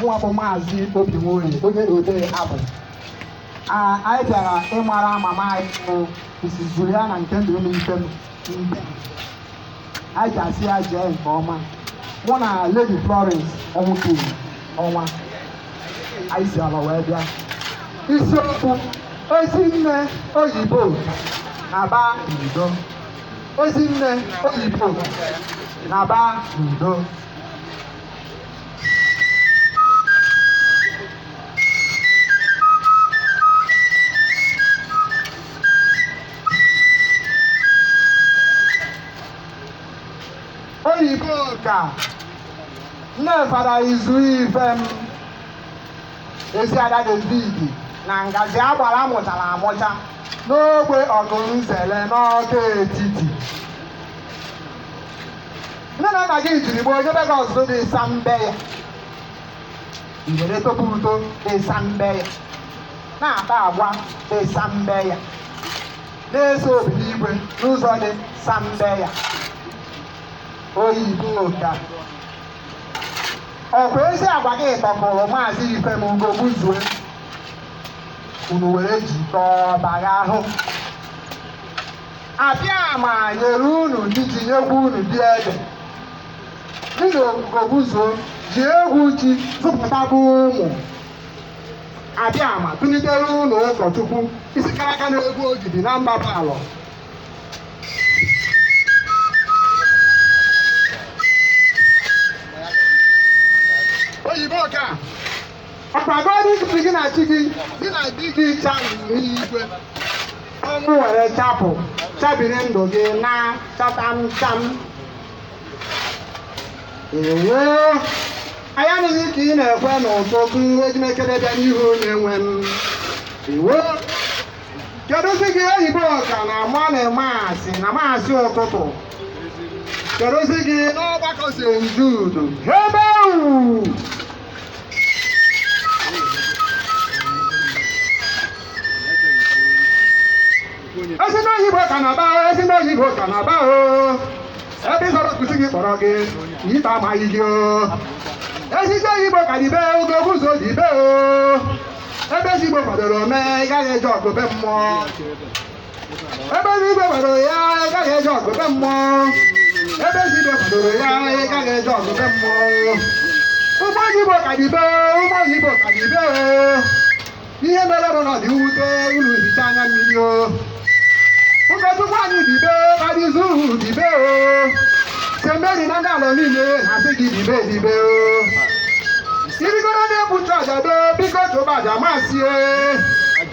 mụwa bụ maazị obi nwoye onye odee abụ Ah, anyị bịara ịmara mama anyị bụ Mrs. Juliana Nkemdilim Ifem mbem anyị ji asị ya jee nke ọma mụ na Lady Florence ọnwụtụrụ ọnwa anyị si Alọ wee bịa isiokwu ezinne Oyibo naba n'udo ezinne Oyibo naba n'udo Oyiboka nne Fada Izu Ifem ezi ada david na Ngozi Agbara mụchara amụcha n'ogbe ọgụnzele n'ọka etiti nne na nna gị jiri gboo nyebe gị ọzụzụ dị ịsa mbe ya i were topu uto dị ịsa mbe ya na-akpa agwa dị ịsa mbe ya na-eso Obinigwe n'ụzọ dị sa mbe ya Oyiboka ọkwa ezi agwa gị tọgburu maazị Ifem Ugogbuzuo unu were jikọọ bagha ahụ Abịama nyere unu di ji nyekwu unu di ede. Gị na Ugogbuzuo ji egwu Chi zụpụtaba ụmụ. Abịama kulitere unu ụkọchukwu isi kara aka na-egbu ogidi na mba bụ alọ. Oyiboka ọkpagoro isi gị na chi gị gị na di gị chabiri igwe ọnwụ were chapụ chabiri ndụ gị na chatamcham ewo anyị anụghị ka ị na-ekwe n'ụtụtụ eji m ekele bịa n'ihu onye nwe m ewo keduzi gị Oyiboka na morning mass na maasị ụtụtụ keduzi gị n'ọgbakọ st jude ebe ahụ ezinne Oyiboka naba ezinne Oyiboka naba o ebe ịzọrọ nkuzi gị kpọrọ gị ịta amaghị gị o ezinne Oyiboka dibe Ugogbuzuo dibe o ebe ezigbo kwadoro mee ị gaghị eje ọgụ be mmụọ ebe ezi ibe gbadoro ya ị gaghị eje ọgụ be mmụọ ebe ezi ibe gbadoro ya ị gaghị eje ọgụ be mmụọ ụmụ oyibo ka dibe ụmụ oyibo ka dibe o ihe mere bụ na ọ dị mwute unu hicha anya mmiri o ụkọchukwu anyị dibe kadizu dibe o seminary na ndị ala niile na-asị gị dibe dibe o ị rigoro n'ekwu nchụaja do biko chụba aja masị e